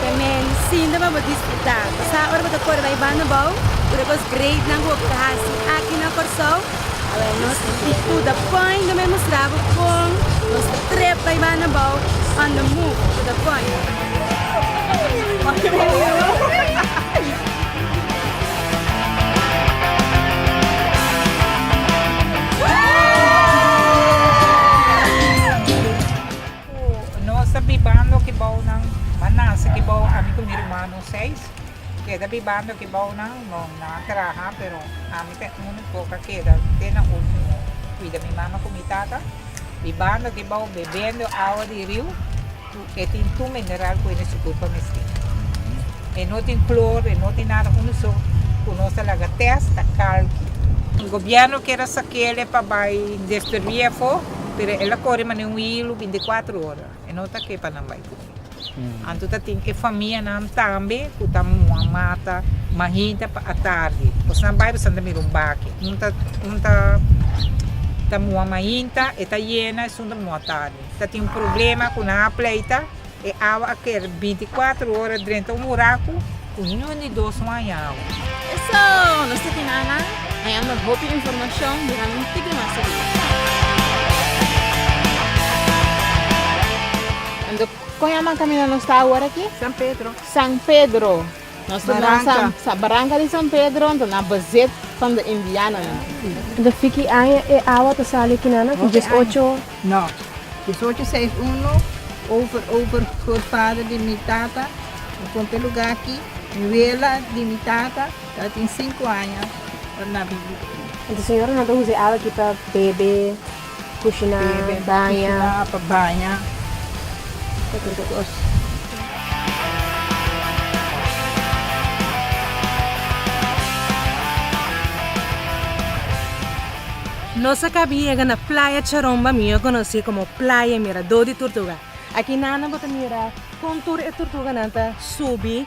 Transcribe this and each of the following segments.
Te men sinta pa bo disfruta. Sa ora bo ta kore bai banda bou ku ta kos great nan ku bo puta hasi aki na Kòrsou? Awor nos ta di ku da pòint bo me mustra bo kon nos ta trep bai banda bou on the move to da pòint. Ku nos ta bibando ki bounan, m'a nase ki bou ami ku mi rumano seis keda bibando ki bounan, no nan a traha pero ami ta e úniko ku a keda te na último kuida mi mama ku mi tata bibando ki bou bebendo awa di riu ku e tin tur mineral ku e nesuku por misti. E no tin klor, e no tin nada unu so ku nos ta laga tèst ta kalki. Gobierno keda sak'el e pa bai destruí afó. Pero el a kore mane un hilu binte kuatru ora, e no ta ke pa nan bai ku mi. Anto ta tin e famianan tambe ku ta muha mata mahita pa atardi. Os na bai boso a mira un baki, un ta un ta ta muha mahinta, e ta yena esun ta muha tardi. Ta tin un problema ku nan a pleita. E awa a kere binti kuatru ora drenta un buraku ku niun di dos no a haña awa. Eso! Nos ta kina nan? A yama hopi informashon durante un tiki mas di dia. Kon yama kamina nos ta awor aki? San Pedro. San Pedro. Nos baranca. Sa baranca di San Pedro anto nan bezit from the Indiana nan. De fiki aña e awa ta sali kina nan ku dies ocho. No. Dies ocho seis uno over over groot vader di mi tata mi compra e luga aki mi wela di mi tata ta tin sinku aña ora nan vivi aki. Entonces señora nan ta usa e awa aki pa bebe. Kushiná, baña. Kushiná pa baña. Pa tur kos. Nos a kabi yega na Playa Charomba, mihó konosí komo Playa Miradó di Tortuga. Aki nan bo ta mira kon tur e tortuganan ta subi.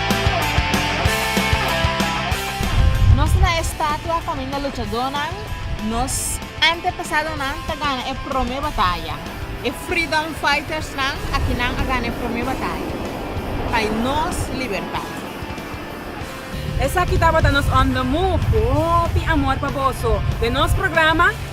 Nos tin na e statua familia luchadónan, nos antepasadonan ta gana e promé bataya, e freedom fightersnan a kinan a gana e promé bataya pa nos libertat. Esaki tabata nos Under Move ku hopi amor pa boso den nos programa.